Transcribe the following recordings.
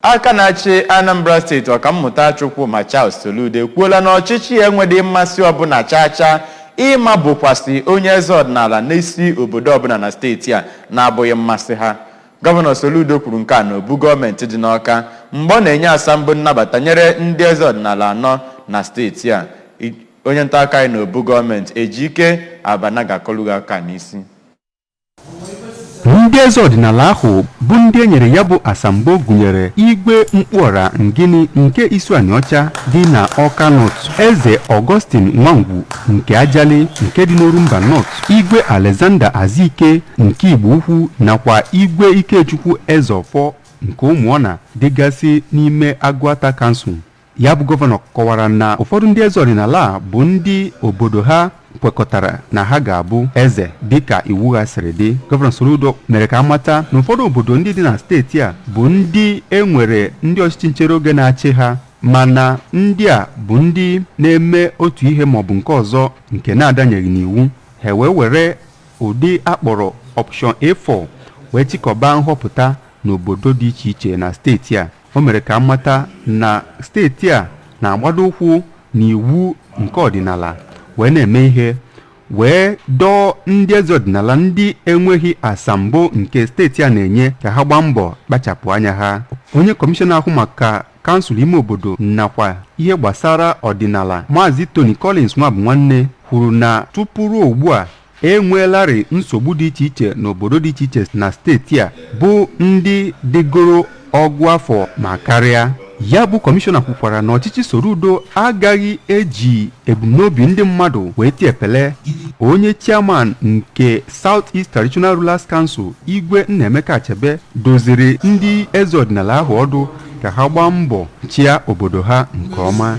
Aka na-achị Anambra steeti Ọkammụta Chukwuma Charles Soludo ekwuola na ọchịchị ya enwedị mmasị ọbụla chaa chaa ịma bukwasị onye eze ọdịnala n'isi obodo ọbụla na steeti a na-abụghị mmasị ha. Gọvanọ Soludo kwuru nke a n'obu gọọmenti dị n'Awka mgbe ọ na-enye asambo nnabata nyere ndị eze ọdịnala anọ na steeti a. Onye ntaakụkọ anyị n'obu gọọmenti Ejike Abana ga-akọlụ gị aka n'isi. ndị eze ọdịnala ahụ bụ ndị e nyere ya bụ asambo gụnyere igwe mkpụọra ngini nke isuanịọcha dị na awka north eze augustine nwangwu nke ajali nke dị n'orumba north igwe alexander azike nke igbo ukwu nakwa igwe ikechukwu ezeọfọ nke ụmụọna dịgasị n'ime agụata kansụl ya bụ gọvanọ kọwara na ụfọdụ ndị eze ọdịnala a bụ ndị obodo ha kwekọtara na ha ga-abụ eze dịka iwu ha siri dị gọvanọ Soludo mere ka a mata na ụfọdụ obodo ndị dị na steeti a bụ ndị e nwere ndị ọchịchị nchere oge na-achị ha mana ndị a bụ ndị na-eme otu ihe maọbụ nke ọzọ nke na-adanyeghị n'iwu ha wee were ụdị a kpọrọ option A4 wee chịkọba nhọpụta n'obodo dị iche iche na steeti a o mere ka a mata na steeti a na-agbado ụkwụ n'iwu nke ọdịnala wee na-eme ihe wee dọọ ndị eze ọdịnala ndị enweghị asambo nke steeti a na-enye ka ha gbaa mbọ kpachapụ anya ha onye kọmishọna ahụ maka kansụl ime obodo nakwa ihe gbasara ọdịnala maazị tony collins nwabụnwanne kwuru na tupu ruo ugbu a e nweelarị nsogbu dị iche iche n'obodo dị iche iche na steeti a bụ ndị dịgoro ọgụ afọ ma karịa ya bụ kọmishọna kwukwara na ọchịchị Soludo agaghị eji ebumnobi ndị mmadụ wee tie epele onye chairman nke South East Traditional Rulers Council Igwe Nnaemeka Achebe dụziri ndị eze ọdịnala ahụ ọdụ ka ha gbaa mbọ chịa obodo ha nke ọma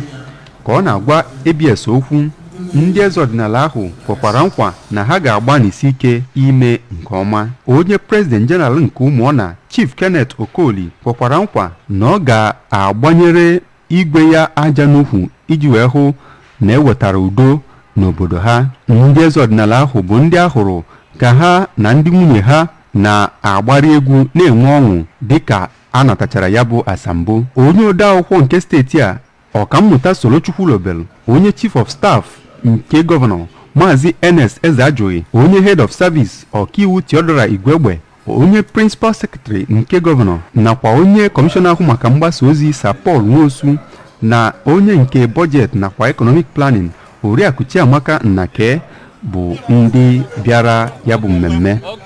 ka ọ na-agwa ABS okwu ndị eze ọdịnala ahụ kwekwara nkwa na ha ga-agbanịsi ike ime nke ọma onye president general nke ụmụọna chief kenneth okoli kwekwara nkwa na ọ ga-agbanyere igwe ya aja n'ukwu iji wee hụ na e wetara udo n'obodo ha ndị eze ọdịnala ahụ bụ ndị a hụrụ ka ha na ndị nwunye ha na-agbarị egwu na-enwe ọṅụ dịka a natachara ya bụ asambo onye odeakwụkwọ nke steeti a Ọkammụta Solo Chukwulobelu, onye Chief of Staff nke gọvanọ, Maazị Ernest Ezeajụghị, onye Head of Service, Ọkaiwu Theodora Igwegbe, onye Principal Secretary nke gọvanọ nakwa onye kọmishọna ahụ maka mgbasa ozi Sir Paul Nwosu na onye nke Budget nakwa Economic Planning Oriakụ Chiamaka Nnake bụ ndị bịara ya bụ mmemme